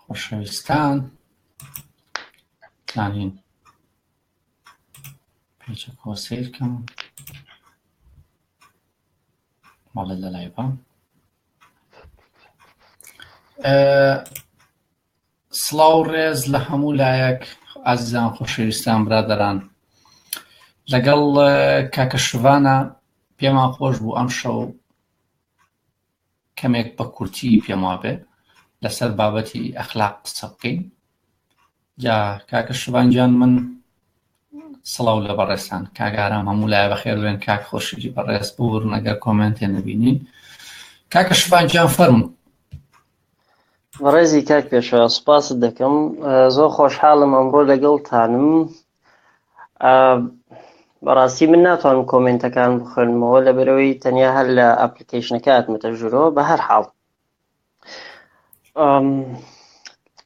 خۆشەویستان زانین پێچە کۆسیرکەم مەڵێ لە لای بەم سڵاو ڕێز لە هەموو لایەک ئازیزان خۆشەویستان برادران لەگەڵ کاکە شڤانە پێمان خۆش بوو ئەم شەو کەمێک بە کورتی پێم وابێ لەسەر بابەتی ئەخلاق قسە بکەین جا کاکە شبان گیان من سڵاو لە بەڕێستان کاگارام هەموو لای بەخێر بێن کاک خۆشیری بەڕێز بور نەگە کۆمنتێ نبینین کاکە شبان گیان فەرم بەڕێزی کاک پێشە سوپاست دەکەم زۆر خۆشحاڵم ئەمڕۆ لەگەڵ تانم بەڕاستی من ناتوانم کۆمنتەکان بخوێنمەوە لە بەرەوەی تەنیا هەر لە ئەپلیکیشنەکە ئەتمەتە ژورۆ بە هەر حاڵ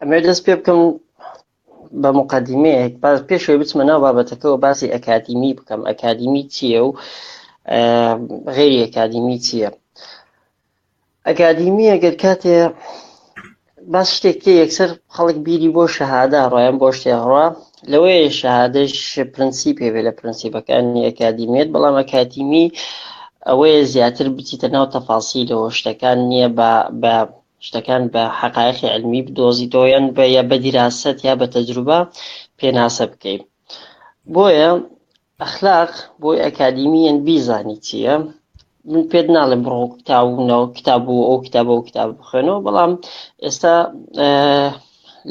ئەمێ دەست پێ بکەم بە مقدمەیەک باز پێشەوەی بچمە ناو بابەتەکەەوە باسی ئەکادیمی بکەم ئەکادیمی چییە و غێری ئەکادیمی چییە ئەکادیمی ئەگەر کاتێ باس شتێک کە یەکسەر خەڵک بیری بۆ شەهادا ڕۆیان بۆ شتێ ڕوا لەوەیە شەهادەش پرەنسی پێبێ لە پرەنسیبەکانی ئەکادیمیت بەڵام ئەکادیمی ئەوەیە زیاتر بچیتە ناو تەفاسی لەوە شتەکان نییە بە بە شتەکان بە حقایقی علمی بدۆزیتەوەیان بە یا بە دیراست یا بە تەجروبە پێناسە بکەیت بۆیە ئەخلاق بۆی ئەکادیمیەن بیزانی چیە من پێت ناڵێ بڕۆ کتابونەوە کتاب و ئەو کتاب و کتاب بخوێنەوە بەڵام ئێستا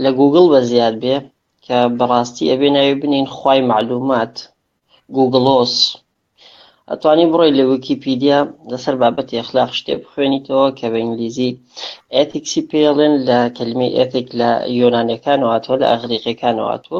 لە گوگل بە زیاد بێ کە بەڕاستی ئەبێ ناوی بنین خی معلومات گوگلۆس ئەتوانی بڕۆی لە ویکیپیدیا لەسەر بابەتی ئەخلاق شتێ بخوێنیتەوە کە بە ئینگلیزی ئەتیکسی پێڵێن لە کلمی ئەتیک لە یۆنانەکانەوەاتوە لە ئەغریقەکانەوەاتوە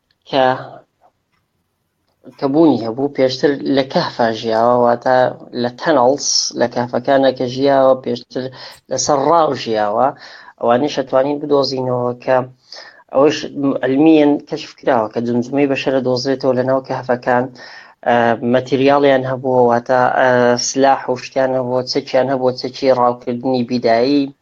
کە کە بوونی هەبوو پێشتر لە کەهفا ژیاوە واتە لە تەنەڵس لە کەفەکانە کە ژیاوە پێشتر لەسەر ڕاو ژیاوە ئەوانەی شەتوانین بدۆزینەوە کە ئەوش ئەلمیەن کەشف کراوە کە جمجمەی بەشەرە دۆزرێتەوە لە ناو کەهفەکان مەتریاڵیان هەبووە واتە سلاح و شتیان هەبووە چەکیان هەبووە چەکی ڕاوکردنی بیدایی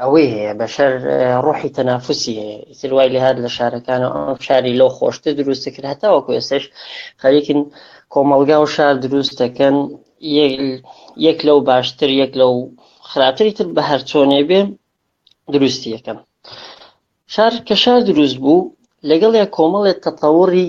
ئەوەی هەیە بەشەر ڕۆحی تەنافسی هەیە ئیتر وای لە هاات لە شارەکانە ئەم شاری لەو خۆشتە دروستە کرد هەتاوەکو ئێسش خەریکن کۆمەلگا و شار دروست دەکەن یەک لەو باشتر یەک لەو خراپتری تر بە هەرچۆنێ بێ دروستی یەکەم شار کە شار دروست بوو لەگەڵ یە کۆمەڵێت تەتەوەڕی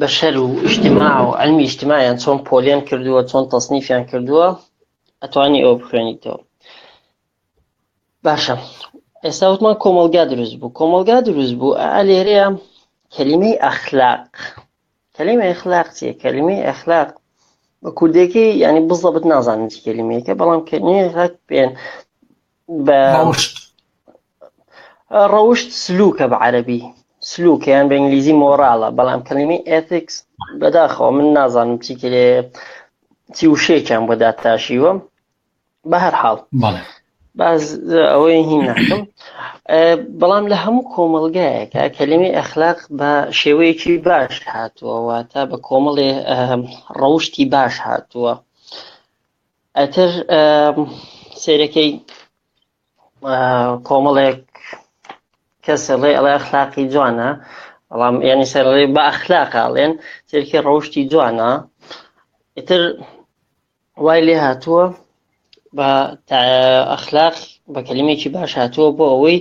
بەشەر و ئیجتیماع و علمی ئیجتیماعیان چۆن پۆلیان کردووە چۆن تەسنیفیان کردووە ئەتوانی ئەوە بخوێنیتەوە باشە ئێستا وتمان کۆمەلگا دروست بوو کۆمەلگا دروست بوو ئالێرەیە کەلیمەی ئەخلاق کەلیمە ئەخلاق چیە کەلیمەی ئەخلاق بە کوردێکی ینی بزەبت نازانم چی کەلیمەیەکە بەڵام کەنیێک بێن بە ڕەوشت سلوکە بە عەرەبی سلوکە یان بە ئینگلیزی مۆراڵە بەڵام کەلیمەی ئێتیکس بەداخەوە من نازانم چی کرێ چی وشەیەکیان بۆ داتاشیوە بە هەر حاڵ بەڵێ باز ئەوەی هین ناکەم بەڵام لە هەموو کۆمەلگایەکە کەلیمی ئەخلاق بە شێوەیەکی باش هاتووەوە تا بە کۆمەڵێ ڕەوشتی باش هاتووە ئەتر سێرەکەی کۆمەڵێک کەس ئەڵێ ئەڵێ ئەخلاقی جوانە بەڵام یعنی سەرڵێ بە ئەخلاقاڵێن تێکی ڕەوشتی جوانە ئیتر وای لێ هاتووە بە ئەخلاق بە کەلیمێکی باش هاتووە بۆ ئەوەی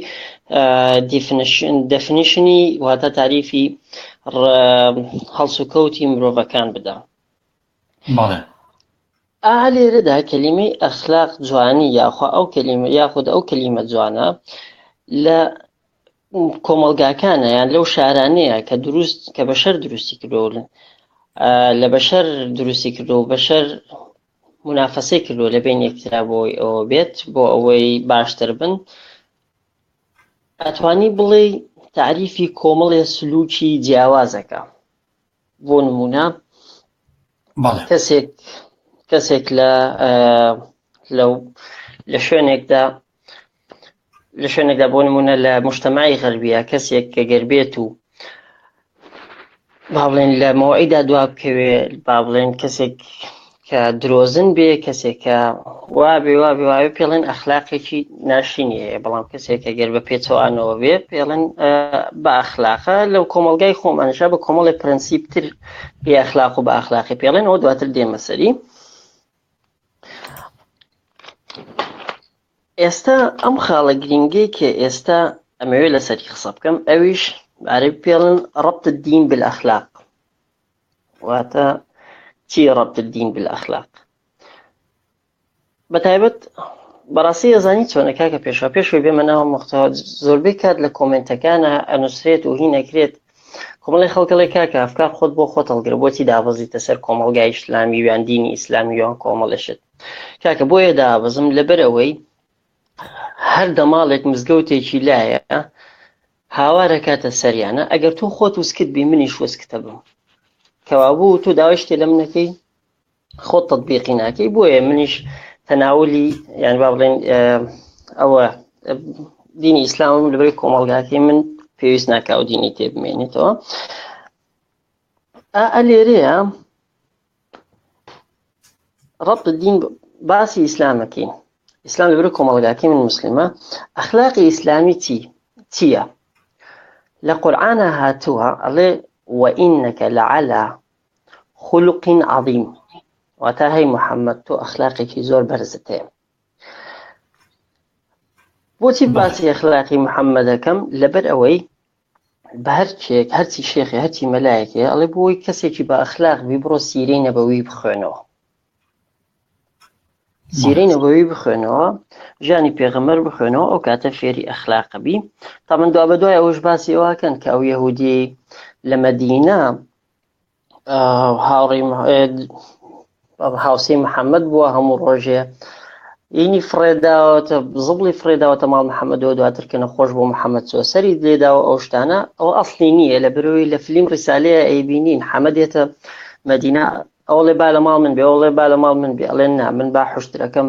دەفنیشنی واتە تاریفی هەڵسوکەوتی مرۆڤەکان بدە بەڵێ. ئا لێرەدا کەلیمەی ئەخلاق جوانی یاخوا ئەو کەلیمە یاخود ئەو کەلیمە جوانە لە کۆمەلگاکانە یان لەو شارانەیە کە دروست کە بە شەر دروستی کردۆن لە بەشەر دروستی کردو بەشەر منافەسەی کردو لە بین یەکترا بۆی ئەوە بێت بۆ ئەوەی باشتر بن ئەتوانی بڵێ تعریفی کۆمەڵێ سلوکی جیاوازەکە بۆ نمونە کەسێک کەسێک لە لەو لە شوێنێکدا لە شوێنێکدا بۆ نمونە لە مشتمای غەربیە کەسێک کە گەربێت و با بڵێن لە مەوەیدا دوا بکەوێ با بڵێن کەسێک کە درۆزن بێ کەسێکە وابێ وابێ وابێ پێڵێن ئەخلاقێکی ناشینی هەیە بەڵام کەسێکە گەر بە پێچەوانەوە بێ پێڵێن بە ئەخلاقە لەو کۆمەلگای خۆمانشە بە کۆمەڵی پرەنسیپتر بێ ئەخلاق و بە ئەخلاقی پێڵێنەوە دواتر دێمەسەری ئێستا ئەم خاڵە گرنگەی کە ئێستا ئەمەوێت لەسەری قسە بکەم ئەویش عرب پێڵن ڕبت دین بالأخلاق واتە چیە ربط الدین بالاخلاق بەتایبەت بەڕاستی ئەزانی چۆنە کاکە پێشا پێشوی بێمە ناوە مختەوە زۆربەی کات لە کۆمنتەکانە ئەنووسرێت و هی نەکرێت کۆمەڵی خەڵکەڵی کاکە ئەفکار خۆت بۆ خۆت هەڵگر بۆچی دابەزیتە سەر کۆمەلگای ئیسلامی ویان دینی ئیسلامی وان کۆمەڵشت کاکە بۆیە دابەزم لەبەر ئەوەی هەر دەماڵێک مزگەوتێکی لایە هاوار ئەکاتە سەریانا ئەگەر تۆ خۆت وسکت بی منیش وسکتە بم کەوابوو تۆ داوای شتێ لەم نەکەی خۆت تطبیقی ناکەی بۆیە منیش تەناولی یان با بڵێن ئەوە دینی ئیسلامم لەبەر کۆمەڵگاکەی من پێویست ناکاو دینی تێ بمێنێتەوە ئا لێرەیە ڕەبت دین باسی ئیسلامەکەین ئیسلام لەبرو کۆمەڵگاتی من مسلمە ئەخلاقی ئیسلامی چی چییە لە قورآە هاتووە ئەڵێ وئینەکە لە علا خولقین عظیم واتا هەی محەممەد تۆ ئەخلاقێکی زۆر بەرزت هەیە بۆچی باسی ئەخلاقی محەممەدەکەم لەبەر ئەوەی بەهەرکێک هەرچی شێخێ هەرچی مەلایەکێ ئەڵێ بۆی کەسێکی بە ئەخلاق بی بڕۆ سیرەی نەبەوی بخوێنەوە سیرەی نەبەوی بخوێنەوە ژیانی پێغەمەر بخوێنەوە ئەو کاتە فێری ئەخلاقە بی تا من دوا بە دوای ئەوش باسی ئەوکەن کە ئەو یهودی لە مەدینە هاوڕی هاوسی محەممەد بووە هەموو ڕۆژێ ئینی فڕێداوەتە زبڵی فڕێداوەتە ماڵ محەممەدەوە دواتر کە نەخۆش بۆ محەممەد چۆ سەری لێداوە ئەو شتانە ئەو ئەفلی نییە لە برۆی لە فلیم ڕیسالەیە ئەیبینین حەمەدێتە مەدینا ئەوڵێ با لە ماڵ من بێ ئەوڵێ با لە ماڵ من بێ ئەڵێن نا من با حشتەکەم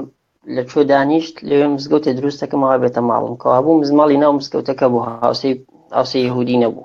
لە چۆ دانیشت لەوێ مزگەوتە دروستەکەمەوە بێتە ماڵم کەوا بوو مزماڵی ناو مزگەوتەکە بوو هاوسی هاوسی یهودی نەبوو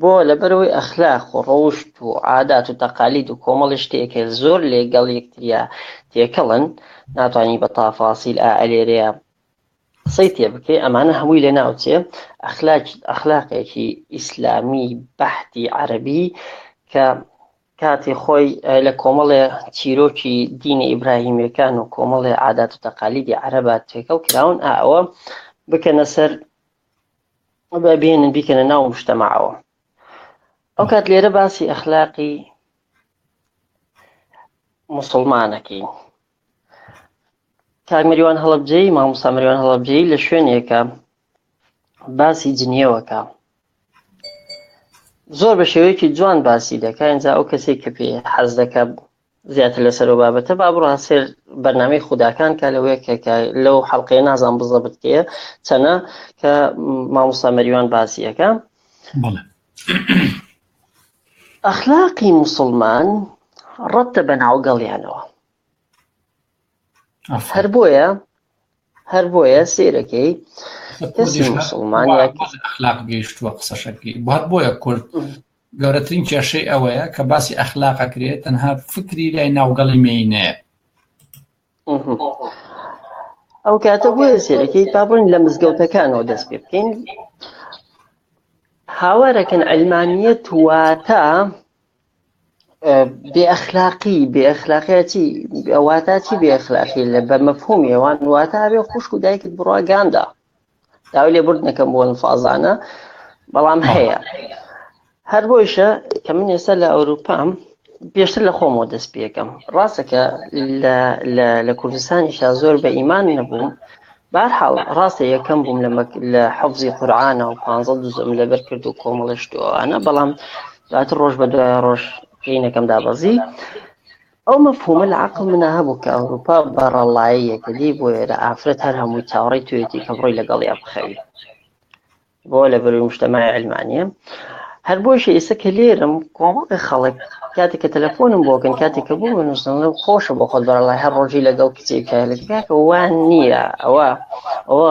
بۆ؟ لەبەرئەوەی ئەخلاق و ڕەوشت و عادات و تەقالید و کۆمەڵی شتێک هەیە زۆر لەگەڵ یەکتریا تێکەڵن ناتوانی بە تافاسیل ئا ئەلێرەیا قسەی تێ بکەی ئەمانە هەمووی لە ناوچێ ئەخلاکی ئەخلاقێکی ئیسلامی بەحتی عەربی کە کاتی خۆی لە کۆمەڵێ چیرۆکی دینە ئیبراهیمیەکان و کۆمەڵێ عادات و تەقالیدی عەرەبات تێکەڵ کراون ئەوە بکەنە سەر با بێنن بیکەنە ناو مشتەماعەوە ئەو کات لێرە باسی ئەخلاقی مسلمانەکەین کاک مریوان هەڵبجەی مامۆستا مریوان هەڵبجەی لە شوێنێکە باسی جنیەوەکە زۆر بە شێوەیەکی جوان باسی دەکە ئەجا ئەو کەسێک کە پێ حەز دەکە زیاتر لەسەر ئەو بابەتە با بڕۆن سێر بەرنامەی خوداکان کە لەوەیە کە لەو حەڵقەیە نازان بزەبت کێ چەنە کە مامۆستا مەریوان باسیەکە ئەخلاقی مسلمان ڕەتە بە ناوگەڵیانەوە هەر بۆیە هەر بۆیە سیرەکەی ئەخلاق گەیشتووە قسەشەکەی بار بۆیە کورد گەورەترین کێشەی ئەوەیە کە باسی ئەخلاقە کرێت تەنها فکری لای ناوگەڵی مینەیە ئەو کاتە بۆیە سێرەکەی پابن لە مزگەوتەکانەوە دەست پێ بکەین هاوارەکەن ئەلمانیە تواتە بێ ئەخلاقی بێ ئەخلاقیەتی ئەوواتا چی بێ ئەخلاقی لە بە مەفهومی ئەوان واتە هەبێ خوشک و دایکت بڕواگاندا داوای لێ برد نەکەم بۆ فازانە بەڵام هەیە هەر بۆیشە کە من ئێستا لە ئەوروپام پێشتر لە خۆمەوە دەست پێەکەم ڕاستەکە لە کوردستانیشا زۆر بە ئیمان نەبووم بارحاڵ ڕاستە یەکەم بووم لە حەفزی قورآانە و پ دوزم لەبەر کرد و کۆمەڵشتوانە بەڵام دواتر ڕۆژ بە دوای ڕۆژ ژینەکەم دابەزی ئەو مەفهومە لە عقل منا هەبوو کە ئەوروپا بەڕەڵایەکە دی بۆ ئێرە ئافرەت هەر هەمووی چاوەڕی توێتی کە بڕۆی لەگەڵی بخەوی بۆ لە بەروی مشتمای علمانە هەر بۆش ئێستا کە لێرم کۆمەڵی خەڵک کاتێک کە تەلەفۆنم بۆکەن کاتێک کە بۆ منوستن خۆشە بۆ خۆت بەڕڵای هەر ڕۆژی لەگەڵ کچێکە لەکە وان نییە ئەوە ئەوە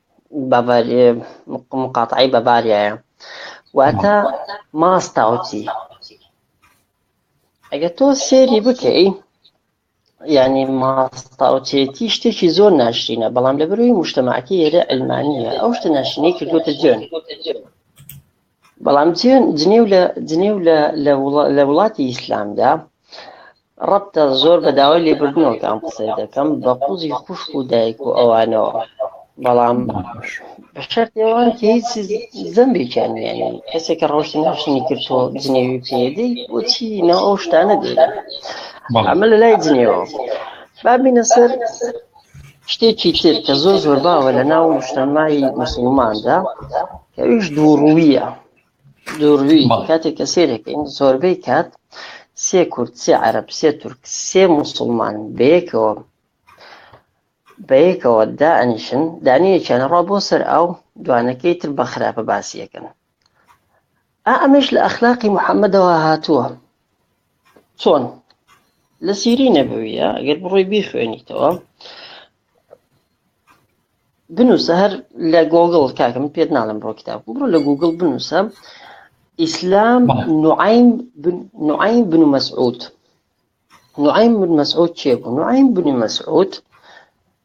باڤاریای مقاتعەی باڤاریایە واتە ماستاوچی ئەگە تۆ سێری بکەی ینی ماستاوچێتی شتێکی زۆر ناشرینە بەڵام لە بروی مشتمەعکی ئێرە ئەلمانە ئەو شتە ناشرینەی کردوتە جوێن بەڵام جنێو لە جنێو لە وڵاتی ئیسلامدا ڕەبتە زۆر بە داوای لێبردنەوەتان قسەی دەکەم بە قوزی خوشک و دایک و ئەوانەوە بەڵام بەشەرتێوان کە هیچ زەمبێکیان نیانی کەسێک کە ڕۆشتی ناشنی کردۆ جنێوی پێدەی بۆچی ناو ئەو شتانە دێت ئەمە لە لای جنێوە بابینە سەر شتێکی تر کە زۆر زۆر باوە لە ناو نیشتەمای مسلماندا ئەویش دووڕوویە دووروی کاتێک کە سێرەکەین زۆربەی کات سێ کورد سێ عرب سێ تورک سێ مسلمان بەیەکەوە بەیەکەوە دائنیشن دانیەکیان ڕا بۆ سەر ئاو دوانەکەی تر بە خراپە باسیەکەن ئەمەش لە ئەخلاقی محەممەدەوە هاتووە چۆن لە سیری نەبوویە ئەگەر بڕۆی بیخوێنیتەوە بنووسە هەر لە گۆگڵ کاکەم پێت ناڵم بڕۆ کتاب بڕۆ لە گوگل بنووسە ئیسلام نوعیم نوعیم بن مسعود نوعیم بن مسعود چێ بوو نوعیم بن مسعود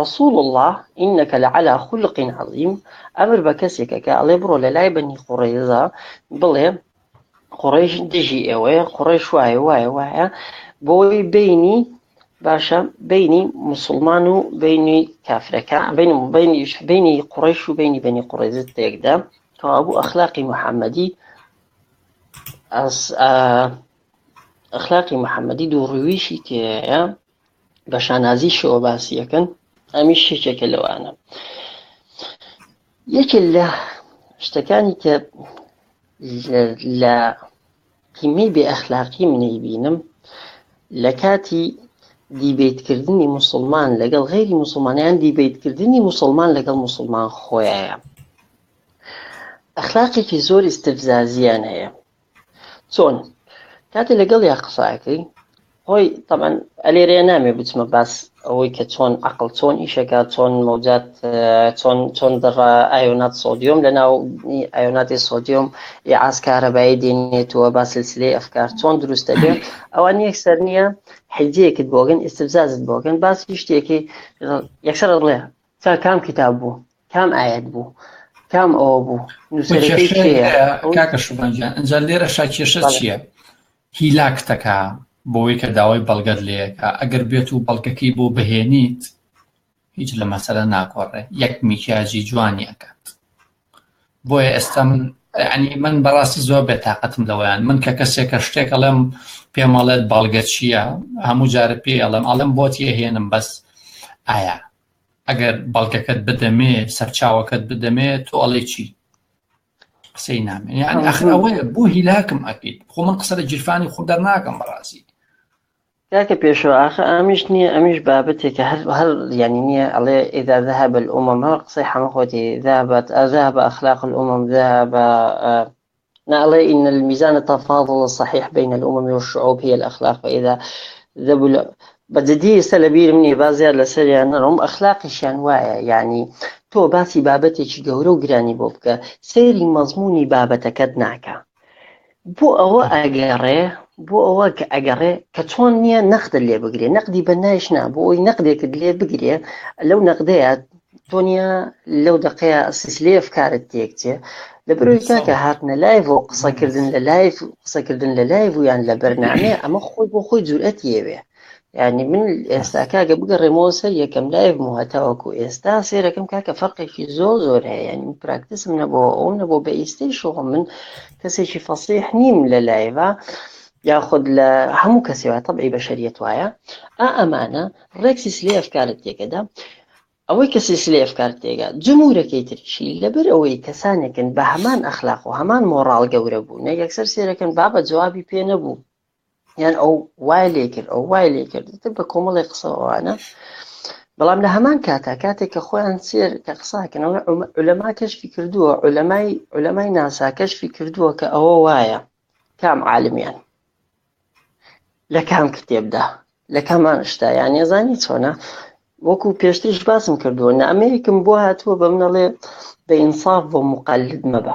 رسول اللە انک لعلی خلق عظیم، ئەمر بە کەسێکە کە ئەڵێ بڕۆ لە لای بەنی قوڕەیزە بڵێ قوڕەیش دژی ئێوەیە قوڕەیش وایە وایە وایە بۆی بینی باشە بینی مسلمان و بینی کافرەکە بینی بینی بینی قوڕەیش و بینی بەنی قوڕەیزە تێکدا کەوابوو ئەخلاقی محەممەدی ئەخلاقی محەممەدی دووڕویشی تێەیە بە شانازیشەوە باسی یەکەن ئەمیش یەکێکە لەوانە یەکێ لە شتەکانی کە لە قیمەی بێ ئەخلاقی منەی بینم لە کاتی دیبیتکردنی مسلمان لەگەڵ غیری مسلمانیان دیبیتکردنی مسلمان لەگەڵ مسلمان خۆیە ئەخلاقێکی زۆر استفزازیان هەیە چۆن کاتێ لەگەڵ یا قساکەی هۆی تەمان ئەلێرەیە نامێ بچمە باس ئەوەی کە چۆن عقل چۆن ئیشەکە چۆن مەوجات چۆن چۆن دەڕا ئایۆنات سۆدیۆم لە ناو ئایۆناتی سۆدیۆم ئاسکارەبایی دێنێتەوە با سلسلەی ئەفکار چۆن دروستە بێت ئەوان یەک سەر نییە حجەیەکت بۆگەن ئستفزازت بۆگەن باسی شتێکی یەکسەر ڵێ سەر کام کتاب بوو کام ئاەت بوو کام ئەوە بوو کاکە شوبانجان ئەجا لێرە شاکێشە چییە هیلاکتەکە بۆی کە داوای بەڵگەت لەیەکە ئەگەر بێت و بەڵگەکەی بۆ بهێنیت هیچ لە مەسەرە ناکۆڕێ یەک میکیاجی جوانی ئەکات بۆیە ئێستا من ینی من بەڕاستی زۆر بێ تااقەتم لەوەیان من کە کەسێک کە شتێک ئەڵێم پێمەڵێت بەڵگە چییە هەموو جارە پێ ئەڵێم ئەڵم بۆتیە هێنم بەس ئایا ئەگەر بەڵگەکەت بدەمێ سەرچاوەکەت بدەمێ تۆ ئەڵێ چی قسەی نامێ یان ئەخرەوەیە بۆ هیلاکم ئەکەیت خۆ من قسە لە جیرفانی خۆ دەرناکەم بەڕاستی کاکە پێشەوا ئاخە ئامیش نییە ئەمیش بابەتێکە هەر هەر یانی نییە ئەڵێ ئیدا ذهب الامم هەر قسەی حەمە خۆتی ذهبت ذهب اخلاق الامم ذهب ناڵێ ان الميزان التفاضل الصحيح بين الامم والشعوب هي الاخلاق فاذا ذهب بەجددی ئێستا لە بیرم نییە با زیاد لەسەریان نەڕۆم ئەخلاقیشیان وایە یعنی تۆ باسی بابەتێکی گەورە و گرانی بۆ بکە سەیری مەزمونی بابەتەکەت ناکە بۆ ئەوە ئەگەڕێ بۆ ئەوە کە ئەگەڕێ کە چۆن نییە نەخت لێ بگرێ نەقدی بە نایش نا بۆ ئەوی نەقدێکت لێ بگرێ لەو نەقدەیە دنیا لەو دقەیە سیسلێف کارت تێکچێ لە بەرەوەی کاکە هاتنە لایڤ و قسەکردن لە لایف قسەکردن لە لایڤ و یان لە بەرنامەیە ئەمە خۆی بۆ خۆی جورئەت یەوێ یعنی من ئێستا کاکە بگەڕێمەوە سەر یەکەم لایف و هەتاوەکو ئێستا سێرەکەم کاکە فەرقێکی زۆر زۆر هەیە ینی پراکتسم نەبەوە ئەو نەبوو بە ئیستی شۆ من کەسێکی فەسیح نیم لە لایڤە یاخود لە هەموو کەسی وایە طبعی بەشەریەت وایە ئا ئەمانە ڕێکسی سلێ ئەفکارت تێکەدا ئەوەی کە سیسلی ئەفکارت تێگا جمهورەکەی ترشی لەبەر ئەوەی کەسانێکن بە هەمان ئەخلاق و هەمان مۆڕال گەورە بوو نە یەکسەر سێرەکەن بابە جوابی پێ نەبوو یان ئەو وای لێ کرد ئەو وای لێ کرد تر بە کۆمەڵی قسەوانە بەڵام لە هەمان کاتا کاتێک کە خۆیان سێر کە قساکەنەوە لەما کەشفی کردووە لەمای لەمای ناسا کەشفی کردووە کە ئەوە وایە کام عالمیان لە کام کتێبدا لە کامان شتا یان نێزانی چۆنە وەکو پێشتریش باسم کردووە نامەیەکم بۆ هاتووە بە منەڵێ بە ئینساف بۆ مقلد مەبە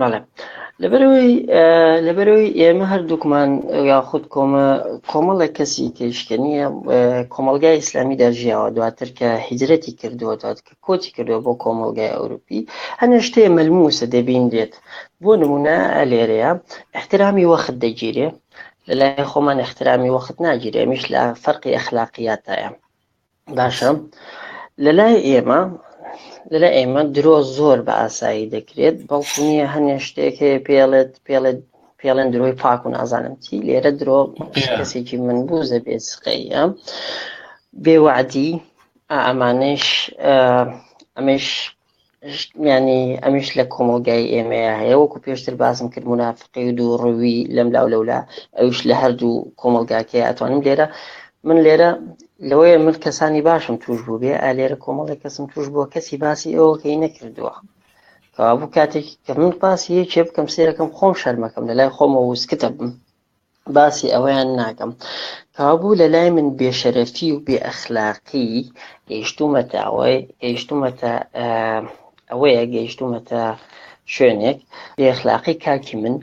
بەڵێ لەبەرەوەی لەبەرەوەی ئێمە هەردووکمان یاخود کۆمە کۆمەڵێک کەسی تێشکە نییە کۆمەلگای ئیسلامی دەژیاوە دواتر کە هیجرەتی کردووە دوات کە کۆچی کردووە بۆ کۆمەلگای ئەوروپی هەنێ شتێ مەلموسە دەبین دێت بۆ نمونە لێرەیە احترامی وەخت دەگیرێ لەلای خۆمان احترامی وەخت ناگیرێ میش لە فەرقی ئەخلاقیاتایە باشە لەلای ئێمە لەلای ئێمە درۆ زۆر بە ئاسایی دەکرێت بەڵکو نییە هەنێ شتێک هەیە پێڵێت پێڵێت پێڵێن درۆی پاک و نازانم چی لێرە درۆ کەسێکی من بوو زە بێ سقەیە بێوەعدی ئەمانش ئەمەش یانی ئەمیش لە کۆمەڵگای ئێمەیە هەیە وەکو پێشتر باسم کرد منافقی و دوو ڕووی لەم لاو لەولا ئەوش لە هەردوو کۆمەلگاکەی ئەتوانم لێرە من لێرە لەوەیە من کەسانی باشم توش بوو بێ ئالێرە کۆمەڵی کەسم توش بووە کەسی باسی ئەوەکەی نەکردووە کەوابوو کاتێک کە من باسی یەکێ بکەم سێرەکەم خۆم شەرمەکەم لە لای خۆمە وسکتە بم باسی ئەوەیان ناکەم کابوو لە لای من بێشەرەفی و بێ ئەخلاقی گەیشتومەتە ئەوەی گەیشتومەتە ئەوەیە گەیشتومەتە شوێنێک بێ ئەخلاقی کاکی من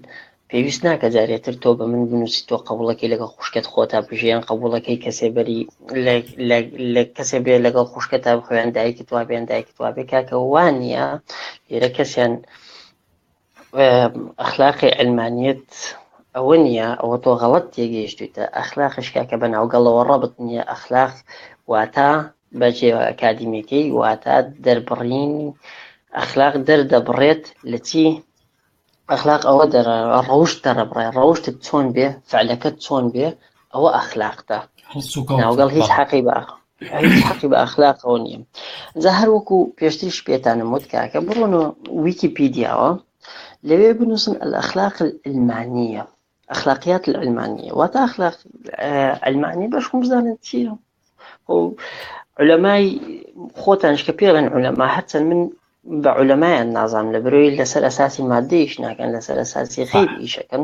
پێویست ناکە جارێتر تۆ بە من بنووسی تۆ قبولەکەی لەگە خوشکت خۆتا بژیان قبولەکەی کەسێ بەری لە کەسێ بێ لەگەڵ خوشکە تا بخوێن دایکت وابێن دایکت وابێ کاکە وانە لێرە کەسیان ئەخلاقی علمانیت ئەوە نییە ئەوە تۆ غەڵت تێگەیشتویتە ئەخلاقش کاکە بە ناوگەڵەوە ڕەبت نییە ئەخلاق واتە بە جێوە ئەکادیمیەکەی واتە دەربڕینی ئەخلاق دەردەبڕێت لە چی ئەخلاق ئەوە دەرە ڕەوشت دەڕبڕێ ڕەوشتت چۆن بێ فعلەکەت چۆن بێ ئەوە ئەخلاقتە ناوگەڵ هیچ حەقی بە هیچ حەقی بە ئەخلاقەوە نییە جا هەر وەکو پێشتریش پێتانم وت کاکە بڕۆنەوە ویکیپیدیاوە لەوێ بنووسن ئەخلاق المانیە ئەخلاقیات المانیە واتە ئەخلاق ئەلمانی بەش خۆم بزانن چییە علەمای خۆتانش کە پێڵێن علەما هەرچەند من بە علەمایان نازام لە برۆی لەسەر ئەساسی مادەیش ناکەن لەسەر ئەساسی خیر ئیشەکەن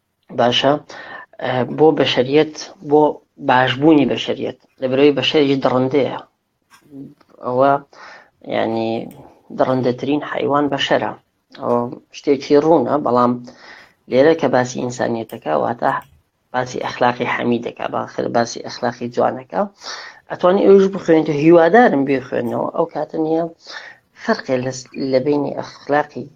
باشە بۆ بەشریت بۆ باشبوونی بەشریت لە برەوەی بەشەریش دڕندەیە ئەوە ینی دڕندەترین حیوان بەشەرە ئەو شتێکی ڕوونە بەڵام لێرە کە باسی ئینسانیتەکە واتە باسی ئەخلاقی حەمی دەکا باخر باسی ئەخلاقی جوانەکە ئەتوانی ئەوش بخوێنیت و هیوادارم بێخوێنەوە ئەو کاتە نیە فەرقێ لە بینی ئەخلاقی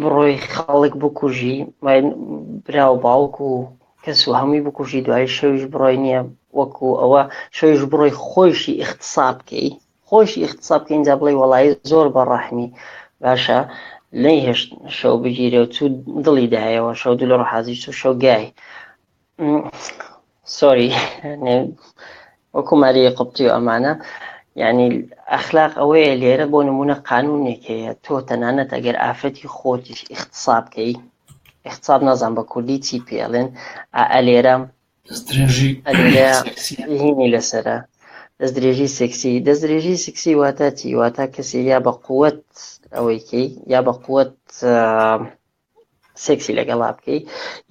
بڕۆی خەڵک بکوژی براو باوک و کەس و هەمووی بکوژی دوای شەویش بڕۆی نییە وەکو ئەوە شەویش بڕۆی خۆشی اختصاب بکەی خۆشی اختصاب بکە اینجا بڵێ وەڵی زۆر بە ڕەحمی باشە نەیهێشت شەو بگیرێ و چوو دڵی دایەوە شەو دو لە ڕحازی چوو شەو گای سۆری وەکو ماری قوبتی و ئەمانە یعنی ئەخلاق ئەوەیە لێرە بۆ نمونە قانونێک هەیە تۆ تەنانەت ئەگەر ئافرەتی خۆتیش اختصاب کەی اختصاب نازان بە کوردی چی پێڵێن ئەلێرە هینی لەسرە دەست درێژی سکسی دەست درێژی سکسی واتا چی واتا کەسی یا بە قوت ئەوەیکەی یا بە قوت سێکسی لەگەڵا بکەی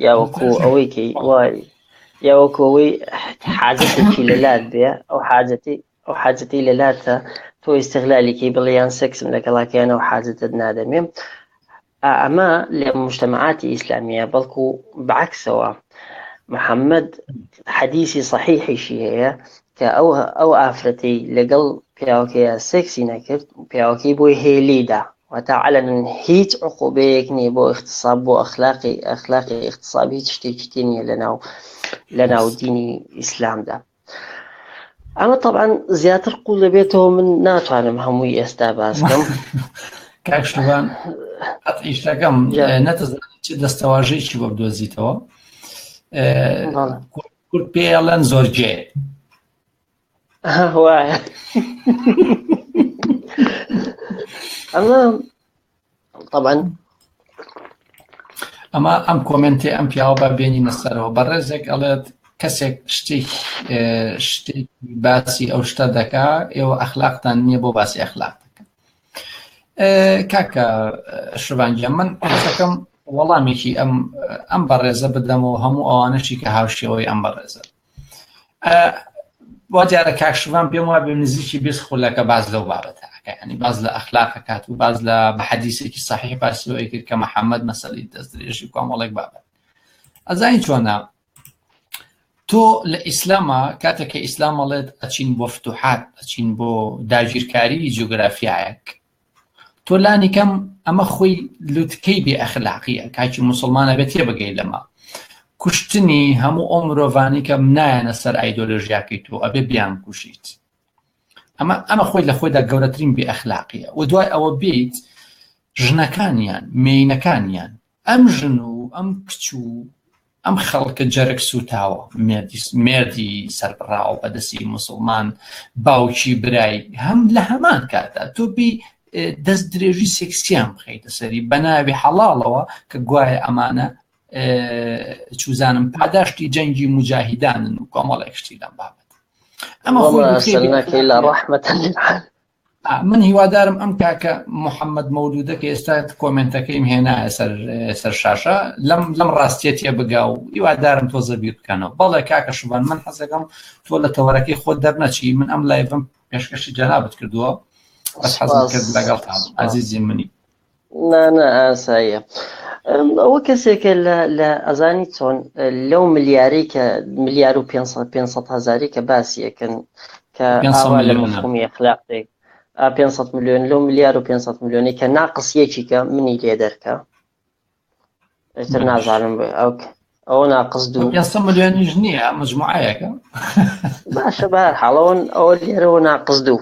یا وەکو ئەوەی کەی وای یا وەکو ئەوەی حاجەتێکی لەلات بێ ئەو حاجەتی ئەو حاجەتی لەلاتە تۆ ئیسەغلالیکەی بڵیان سێکسم لەگەڵاکەیان ئەو حاجەتت نادەمێ ئەمە لە مشتمەعاتی ئیسلامیە بەڵکو بەعکسەوە محەممەد حەدیسی صحیحیشی هەیە کە ئەو ئەو ئافرەتەی لەگەڵ پیاوەکەیا سێکسی نەکرد پیاوەکەی بۆی هەیە لێیدا واتا عەلەنن هیچ عقوبەیەک نییە بۆ اختصاب بۆ ئەخلاقی ئەخلاقی اختصاب هیچ شتێکی تێ نییە لەناو لەناو دینی ئیسلامدا ئەمە طبعاان زیاتر قوڵ دەبێتەوە من ناتوانم هەمووی ئێستا باسکەم کاکشتوان ئیشتەکەم نەتەزان دەستەواژەیەکی بۆ بدۆزیتەوە کورد پێ ئەڵەن زۆرجێ وایە ئەمە طبعا ئەمە ئەم کۆمنتی ئەم پیاوە بە بێنی نەسەرەوە بەڕێزێک ئەڵێت کەسێک شتێک شتێک باسی ئەو شتە دەکا ئێوە ئەخلاقتان نییە بۆ باسی ئەخلاق کاکە شڤانگە من قسەکەم وەڵامێکی ئەم ئەم بەڕێزە بدەمەوە هەموو ئەوانەشی کە هاوشێەوەی ئەم بەڕێزە وا دیارە کاکشمان پێم وا بێ نزیکی بیست خولەکە باز لەو بابەتە ینی باز لە ئەخلاقە کات و باز لە بەحەدیسێکی صحیح باسیەوەی کرد کە محەممەد مەسەلی دەست درێژی کۆمەڵێک بابەت ئەزای چۆنا تۆ لە ئیسلاما کاتێک کە ئیسلام ئەڵێت ئەچین بۆ فتوحات ئەچین بۆ داگیرکاری جوگرافیایەک تۆ لانی کەم ئەمە خۆی لوتکەی بێ ئەخلاقیە کاکی مسلمانە بێت تێ بگەی لەمە کوشتنی هەموو ئەو مرۆڤانی کەم نایەنە سەر ئایدۆلۆژیاکەی تۆ ئەبێ بیان کوشیت ئەمە ئەمە خۆی لە خۆیدا گەورەترین بێ ئەخلاقیە و دوای ئەوە بیت ژنەکانیان مینەکانیان ئەم ژن و ئەم کچ و ئەم خەڵکە جەرگ سووتاوە مێردی سەربڕاوە بەدەستی مسلمان باوکی برای هەم لە هەمان کاتە تۆ بی دەست درێژی سێکسیان بخیتە سەری بە ناوی حەڵاڵەوە کە گوایە ئەمانە چوزانم پاداشتی جەنگی مجاهیدانن و کۆمەڵێک شتی لەم بابەت ئەمە خۆ لە ڕحمەتە من هیوادارم ئەم کاکە محەممەد مەولودە کە ئێستا کۆمنتەکەیم هێنا سەر شاشە لەم لەم ڕاستیەتە بگا و هیوادارم تۆ زەبی بکەنەوە بەڵێ کاکە شوبان من حەزەکەم تۆ لە تەوەرەکەی خۆ دەرنەچی من ئەم لایڤم پێشکەشی جەنابەت کردووە بەس حەزم کرد لەگەڵ ئازیزی منی نانە ئاساییە ئەوە کەسێکە لە ئەزانی چۆن لەو ملیاری کە ملیار و 500 هزاری کە باسیەکەن کە ئاوا لە مفهومی اخلاقێک 500 میلیۆن لەو ملیار و 500 میلیۆنی کە ناقسیەکی کە منی لێ دەرکە ئەتر نازانم ئەو ئەوە ناقس دوو ملیۆنیش نییە مجموعەکە باشە بە حاڵەوەن ئەوە لێرەوە ناقس دوو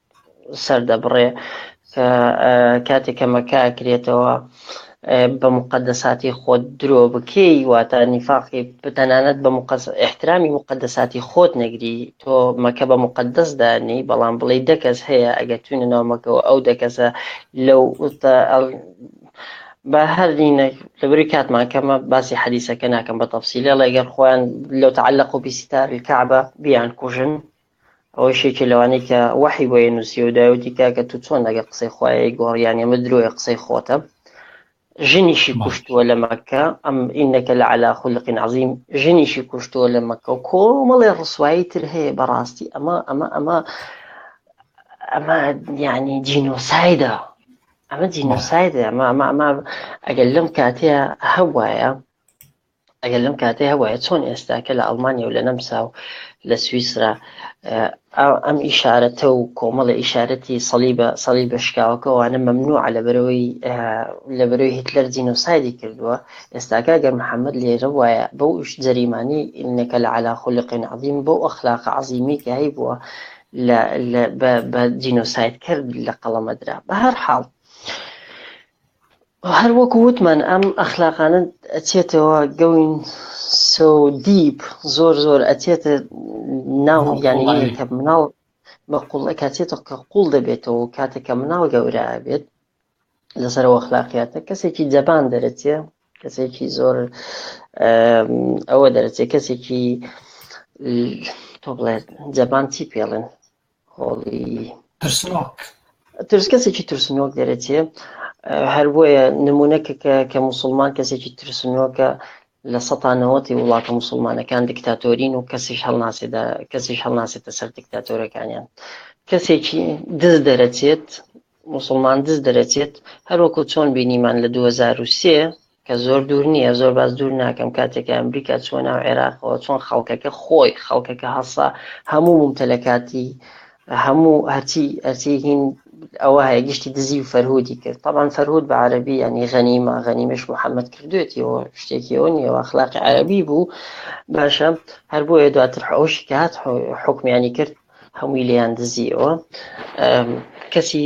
سەردەبڕێ کە کاتێ کە مەکە ئەکرێتەوە بە مقدساتی خۆت درۆ بکەی واتە نیفاقی بتەنانەت بە احترامی مقدساتی خۆت نەگری تۆ مەکە بە مقدس دانی بەڵام بڵێ دەکەس هەیە ئەگەر توینە ناومەکەەوە ئەو دەکەسە لەو بە هەرینە لەبری کاتمان کەمە باسی حەدیسەکە ناکەم بە تەفسیلە لەگەر خۆیان لەو تعلق و بیسیتاری کەعبە بیان کوژن ئەوەش یەکێ لەوانەی کە وەحی بۆیە نووسیە و دایوتی کاکە تو چۆن لەگەڵ قسەی خوایە ئەیگۆڕی یانی ئەمە درۆیە قسەی خۆتە ژنیشی کوشتووە لە مەکە ئەم ئینەکە لە علا خولقین عظیم ژنیشی کوشتووە لە مەکە و کۆمەڵێ ڕسوایی تر هەیە بەڕاستی ئەمە ئەمە ئەمە ئەمە یعنی جینۆسایدە ئەمە جینۆسایدە ئەمە ئەمە ئەمە ئەگەر لەم کاتەیە هەبواە ئەگەر لەم کاتێ هەبواە چۆن ئێستا کە لە ئەڵمانیا و لە نەمسا و لە سویسرا ئەم ئیشارەتە و کۆمەڵە ئیشارەتی سەڵی بە سەڵی بە شکاوەکەوانە مەمنوع لە بەرەوەی لە بەرەوەی هیتلەر جینۆسایدی کردووە ئێستاکە گەر محەممەد لێرە وایە بەو ئیش جەریمانی ئینەکە لە علا خولقین عظیم بەو ئەخلاقە عظیمی کە هەی بووە بە جینۆسایدکرد لە قەڵەمەدرا بە هەر حاڵ هەر وەکو وتمان ئەم ئەخلاقانە ئەچێتەوە going so deep زۆر زۆر ئەچێتە ناو یانی کە مناڵ بە قوڵ کاتێتە کە قوڵ دەبێتەوە کاتێک کە مناڵ گەورە بێت لەسەرەوە خلاقیاتە کەسێکی جەبان دەرەچێ کەسێکی زۆر ئەوە دەرەچێ کەسێکی تۆ بڵێت جەبان چی پێڵێن هۆڵی ترسنۆک. ترس کەسێکی ترسنۆک دەرەچێ هەر بۆیە نمونەکە کە کە مسلمان کەسێکی ترسنۆکە لە سەتانەوەتی وڵاتە مسلمانەکان دکتاتۆرین و کەسیش هەڵناسێدا کەسیش هەڵناسێتە سەر دکتاتۆرەکانیان کەسێکی دز دەرەچێت مسلمان دز دەرەچێت هەروەکو چۆن بینیمان لە 2023 کە زۆر دوور نییە، زۆر باس دوور ناکەم، کاتێک کە ئەمریکا چووە ناو عێراقەوە، چۆن خەڵکەکە خۆی، خەڵکەکە هەسا، هەموو مومتەلەکاتی، هەموو هەرچی، هەرچی هین ئەوە هەیە، گشتی دزی و فەرهودی کرد. تەبعەن فەرهود بە عەرەبی یانی غەنیمە، غەنیمەیش محەمەد کردوویەتیەوە، شتێکی ئەوە نییە، ئەخلاقی عەرەبی بوو. باشە، هەر بۆیە دواتر حوشی کە هات، حوکمیانی کرد، هەمووی لێیان دزییەوە. کەچی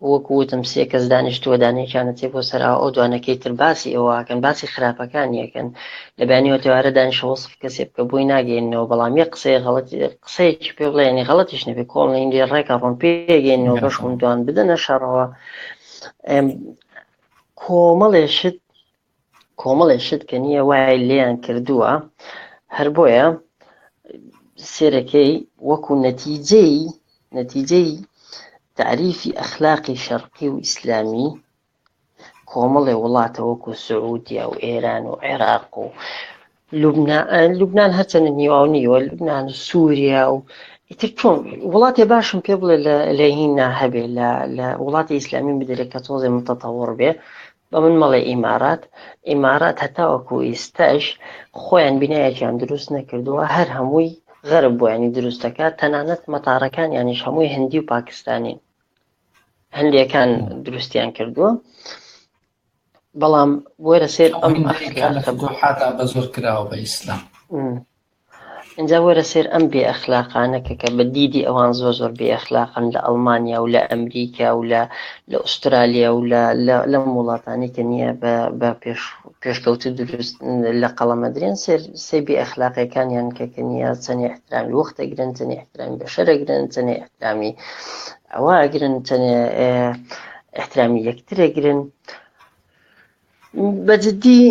وەکو وتم سێ کەس دانیشتووە دانەیەکیانە تێ بۆ سەراوە ئەو دوانەکەی تر باسی ئەوەکەن باسی خراپەکانیەکەن لە بەیانی ئەوتێوارە دانیشە وەسف کەسێ بکە بۆی ناگەینەوە بەڵام یە قسەی غەڵەتی قسەیەکی پێ بڵێ ینی غەڵەتیش نەبێ کۆڵ نەیندی ڕێکە ڕۆن پێگەینەوە بەش دوان بدەنە شەڕەوە کۆمەڵێ شت کۆمەڵێ شت کە نییە وای لێیان کردووە هەر بۆیە سێرەکەی وەکو نەتیجەی نەتیجەی تعریفی ئەخلاقی شەرقی و ئیسلامی کۆمەڵێ وڵاتە وەکو سعودیا و ئێران و عێراق و لوبنان لوبنان هەرچەندە نیواو نیوە لوبنان و سووریا و ئیتر چۆن وڵاتێ باشم پێ بڵێ لە لە هینا هەبێ لە لە وڵاتی ئیسلامی بدرێت کە تۆزێ متەتەوەڕ بێ بە من مەڵێ ئیمارات ئیمارات هەتاوەکو ئیستەش خۆیان بینایەکیان دروست نەکردووە هەر هەمووی غەرب بۆیانی دروستەکە تەنانەت مەتارەکان یانیش هەمووی هەندی و پاکستانین هەندێکان دروستیان کردووە بەڵام وەرە سێر ئەم حتا بە زۆر کراوە بە ئیسلام ئەجا وەرە سێر ئەم بێ ئەخلاقانەکە کە بە دیدی ئەوان زۆر زۆر بێ ئەخلاقن لە ئەڵمانیا و لە ئەمریکا و لە لە ئوسترالیا و لە وڵاتانی کە نییە بە پێش پێشکەوت و دروست لە قەڵەمەدرێن سێر سێ بێ ئەخلاقەکانیان کە کە نیە چەنی احترامی وەختەگرن چەنی احترامی بەشەرەگرن چەنی احترامی ئەوە ئەگرن چەنێ احترامی یەکتر ئەگرن بە جددی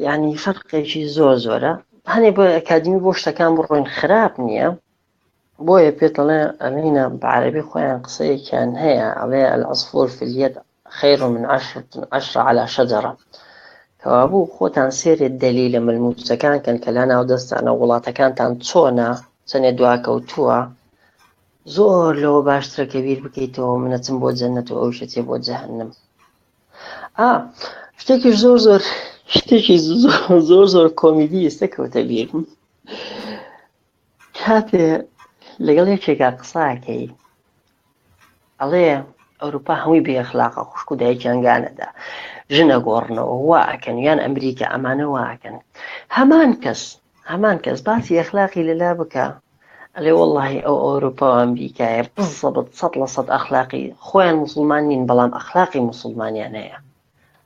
یعنی فەرقێکی زۆر زۆرە هەنێ بۆ ئەکادمی بۆ شتەکان بڕۆین خراپ نییە بۆیە پێتەڵێ ئەمینە بە عربی خۆیان قسەیەکیان هەیە ئەڵێ العصفور في اليد خیر من عشرة عشرة على شجرة کەوابوو خۆتان سێرێ دەلیلە ملموسەکان کەن کە لا ناو دەستانە وڵاتەکانتان چۆنە چەنێ دواکەوتووە زۆر لەوە باشترە کە بیر بکەیتەوە منەچم بۆ جەنەت و ئەوشەچێ بۆ جەهنم ئا شتێکی زۆر زۆر شتێکی زۆر زۆر کۆمیدی ئێستا کەوتە بیرم کاتێ لەگەڵ یەکێکا قساکەی ئەڵێ ئەوروپا هەمووی بێ خلاقە خوشک و دایکیان گانەدا ژنە گۆڕنەوە وا ئەکەن یان ئەمریکا ئەمانە واکەن هەمان کەس هەمان کەس باسی ئەخلاقی لەلا بکە ئەلێ وەڵی ئەو ئەوروپا و ئەمریکایە بزەبت سە لە سەد ئەخلاقی خۆیان مسلمان نین بەڵام ئەخلاقی مسلمانیان هەیە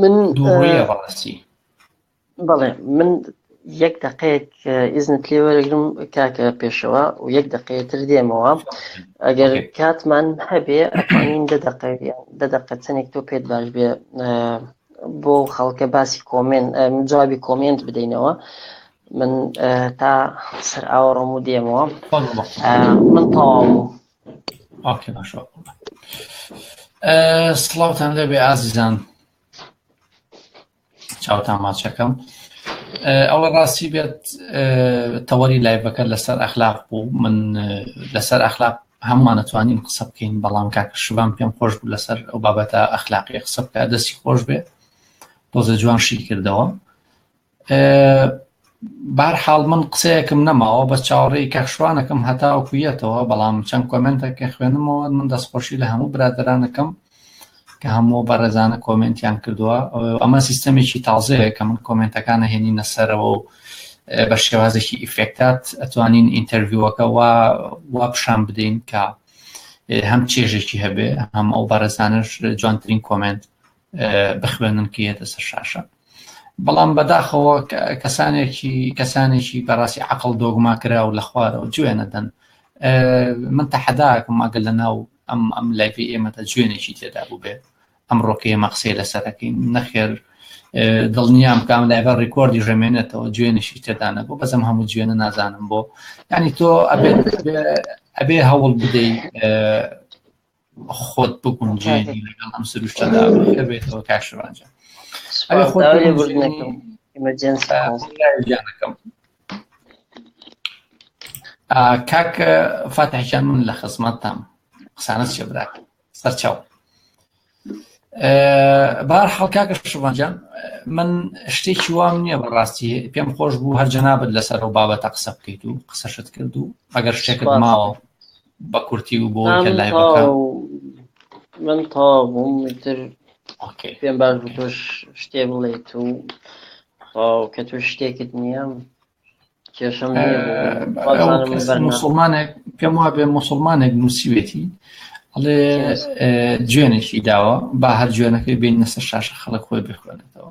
من بەڵێ من یەک دقێک ئیزنت لێ وەرەگرم کاکە پێشەوە و یەک دقێتر دێمەوە ئەگەر کاتمان هەبێ ئەتوانین دە دقە دە دقە چەندێک تۆ پێت باش بێ بۆ خەڵکە باسی کۆمێن جوابی کۆمێنت بدەینەوە من تا سەر ئاوەڕۆم و دێمەوە من تەواو سڵاوتان لێبێ ئازیزان چاوتان ماچەکەم ئەوە ڕاستی بێت تەوەری لایبەکە لەسەر ئەخلاق بوو من لەسەر ئەخلاق هەموانەتوانین قسە بکەین بەڵام کاکە شبان پێم خۆش بوو لەسەر ئەو بابەتە ئەخلاقی قسە بکە دەستی خۆش بێت تۆزە جوان شی کردەوە بار حاڵ من قسەیەکم نەماوە بەس چاوەڕێی کاخشوانەکەم هەتا کویەتەوە بەڵام چەند کۆمنتەکە خوێنمەوە من دەستخۆشی لە هەموو برادرانەکەم کە هەموو بەڕێزانە کۆمنتیان کردووە ئەمە سیستەمێکی تازەیە کە من کۆمنتەکانە هێنینە سەرەوە و بە شێوازێکی ئیفێکتات ئەتوانین ئینتەرویوەکە وا وا پیشان بدەین کە هەم چێژێکی هەبێ هەم ئەو بەڕێزانش جوانترین کۆمنت بخوێنن کە یەتە سەر شاشە بەڵام بەداخەوە کەسانێکی کەسانێکی بەڕاستی عقل دۆگما کرا و لە خوارەوە جوێنەدەن من تەحەداکم ئەگە لە ناو ئەم ئەم لایفی ئێمەتە جوێنێکی تێدا بوو بێ ئەمڕۆکە ئێمە قسەی لەسەرەکەین نەخێر دڵنیام کام لایڤە ڕیکۆردی ژەمێنێتەوە جوێنێکی تێدانە بۆ بەزم هەموو جوێنە نازانم بۆ ینی تۆ ئەبێ هەوڵ بدەیت خۆت بگونجێنی لەگەڵ ئەم سروشتەدا ئەوەیکە بێتەوە کاک شێوان جان ئەگەر خۆت سوپاس لێ بگونجێنی بردنەکەم ئیمەرجێنسی کۆڵ جانەکەم آه، کاک فاتح جان من لە خزمەتتام قسانە چێ براکە سەرچاو بار حڵکاکە شوانجان من شتێکی وام نییە بەڕاستی پێم خۆش بوو هەر جەنابەت لەسەر و بابەتە قسە بکەیت و قسەشت کرد و ئەگەر شتێکت ماوە بە کورتی و بۆ کە لای من تا بووم تر پێم باش بوو تۆش شتێ بڵێیت و کە تۆ شتێکت نییە کێشم مسلمانێک پێم وا بێ مسلمانێک نووسیوێتی ئەڵێ جوێنێکی داوە با هەر جوێنەکەی بین نەسەر شاشە خەڵک خۆی بخوێنێتەوە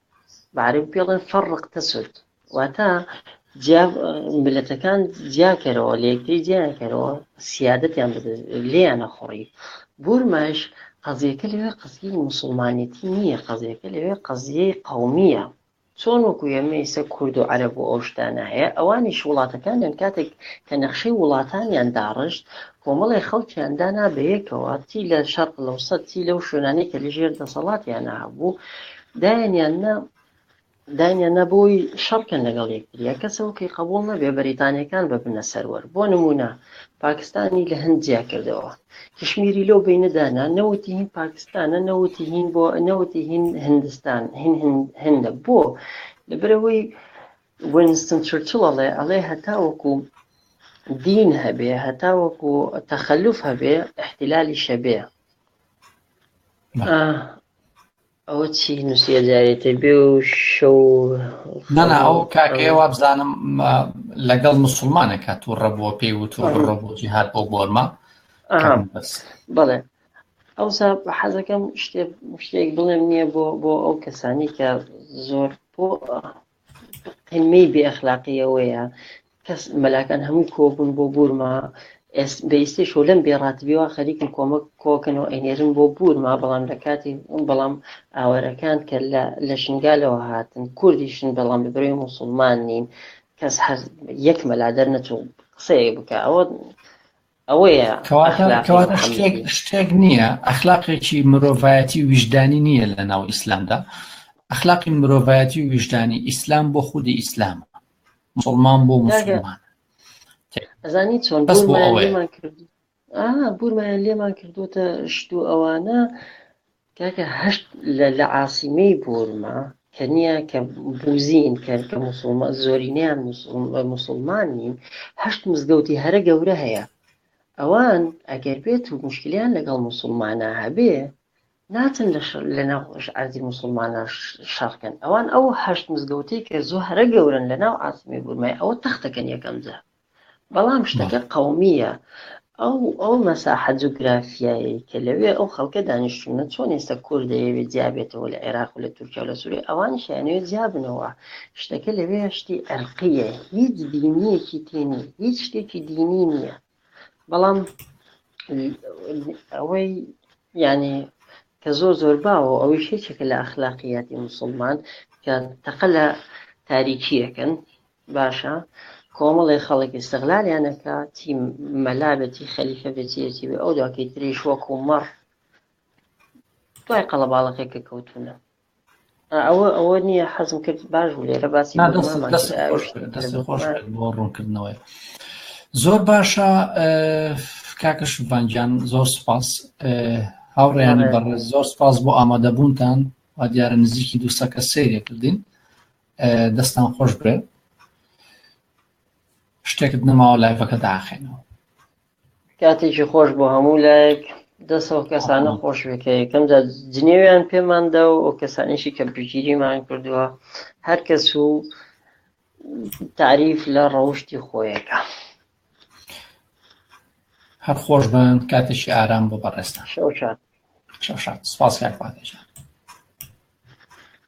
بە عەرەبی پێ ڵێن فەڕق تەسود واتە جیا ملەتەکان جیاکەرەوە لە یەکتری جیاکەرەوە سیادەتیان بدە لێیانە خۆڕی بورمەش قەزیەکە لەوێ قەزیی مسلمانێتی نییە قەزیەکە لەوێ قەزیەی قومیە چۆن وەکو ئێمە ئیسە کورد و عەرب و ئەوشتانە هەیە ئەوانیش وڵاتەکانیان کاتێک کە نەخشەی وڵاتانیان داڕشت کۆمەڵی خەڵکیان دانا بەیەکەوە چی لە شەرق لەوسەد چی لەو شوێنانی کە لە ژێر دەسەڵاتیان هەبوو داین یان نا داین یان نا بۆی شەڕکەن لەگەڵ یەکتریا کەسەوە کەی قبول نەبێ بەریتانیەکان ببنە سەروەر بۆ نمونە پاکستانی لە هەند جیا کردەوە کشمیری لەو بینەدانا نەوتی هین پاکستانە نەوتی هین بۆ نەوتی هین هندستان هین هندە بۆ لەبرەوەی وینستن چرچڵ ئەڵێ ئەڵێ هەتا وەکو دین هەبێ هەتا وەکو تەخەلوف هەبێ احتلالی شەبێ ئەوە چی نوسیە جارێ تر بێ و شەو نانا ئەو کاکەیە وابزانم لەگەڵ مسلمانەکە تو ڕەبووە پێی و تو ڕەبووی هات بۆ بۆرما بڵێ ئەوسا حەزەکەم شتێ شتێک بڵێم نییە بۆ بۆ ئەو کەسانی کە زۆر بۆ قمەی بێ ئەخلاقی ئەوەیە کەس مەلاکان هەمووی کۆبوون بۆ بورما بەئیستی شۆ لەم بێڕاتبیەوە خەریکن کۆمەک کۆکن و ئەینێرن بۆ بورما بەڵام لە کاتی بەڵام ئاوەرەکان کە لە شنگالەوە هاتن کوردیشن بەڵام لە برەوی مسلمان نین کەس هەر یەک مەلادەر نەچوو قسەیەک بکە ئەوە ئەوەیە کەواتە کەواتە شتێک شتێک نییە ئەخلاقێکی مرۆڤایەتی ویژدانی نییە لە ناو ئیسلامدا ئەخلاقی مرۆڤایەتی و ویژدانی ئیسلام بۆ خودی ئیسلام مسلمان بۆ مسلمان ئەزانی چۆن بەس بۆ ئەوەیە بورمایان لێمان کردوتە شتو ئەوانە کاکە هەشت لە لە عاسیمەی بورما کە نیە کە بوزین کە کە موسڵمان زۆرینەیان موسڵمان نین هەشت مزگەوتی هەرە گەورە هەیە ئەوان ئەگەر بێت و مشکلیان لەگەڵ موسڵمانە هەبێ ناچن لە شەر لە ناو خۆش عەرزی موسڵمانە شەڕکەن ئەوان ئەو هەشت مزگەوتەی کە زۆ هەرە گەورن لە ناو عاسیمەی بورمای ئەوە تەختەکەن یەکەم جار بەڵام شتەکە قەومییە ئەو ئەو مەساحە جوگرافیایەی کە لەوێ ئەو خەڵکە دانیشتونە چۆن ئێستا کورد دەیەوێت جیابێتەوە لە عێراق و لە تورکیا و لە سووریە ئەوانیش یانەوێت جیابنەوە شتەکە لەوێ شتی ئەرقیە هیچ دینیەکی تێنی هیچ شتێکی دینی نییە بەڵام ئەوەی یعنی کە زۆر زۆر باوە ئەوەی شێچێکە لە ئەخلاقیاتی مسلمان کە تەقە لە تاریکیەکەن باشە کۆمەڵێ خەڵک ئیستغلالیان ئەکاتی مەلا بێتی خەلیفە بێتی یەکی بێ ئەو دواکەی تریش وەکو مەڕ دوای قەڵەباڵەکەی کە کەوتونە ئەوە ئەوە نییە حەزم کرد باش بوو لێرە باسی نا، دەست بۆمامان دەست کرد خۆش ئاوێشتر بێت، دەست لێرە خۆش بێت بۆ ڕوونکردنەوەی زۆر باشە اه، کاکە شڤانگیان زۆر سپاس اه، هاوڕێیانی بەڕێز زۆر سپاس بۆ ئامادەبوونتان وا دیارە نزیکی دوو سەکە سەیرێ کردین دەستان خۆش بێ شتێکت نەماوە لایفەکە داخێنەوە کاتێکی خۆش بۆ هەموو لایەک دەسەوە کەسانە خۆش بکە یەکەم جا جنێویان پێماندا و ئەو کەسانیشی کە بژگیریمان کردووە هەر کەس و تعریف لە ڕەوشتی خۆیەکە هەر خۆش بن کاتێکی ئارام بۆ بەڕێستان شەو شاد سپاس کار پادێژە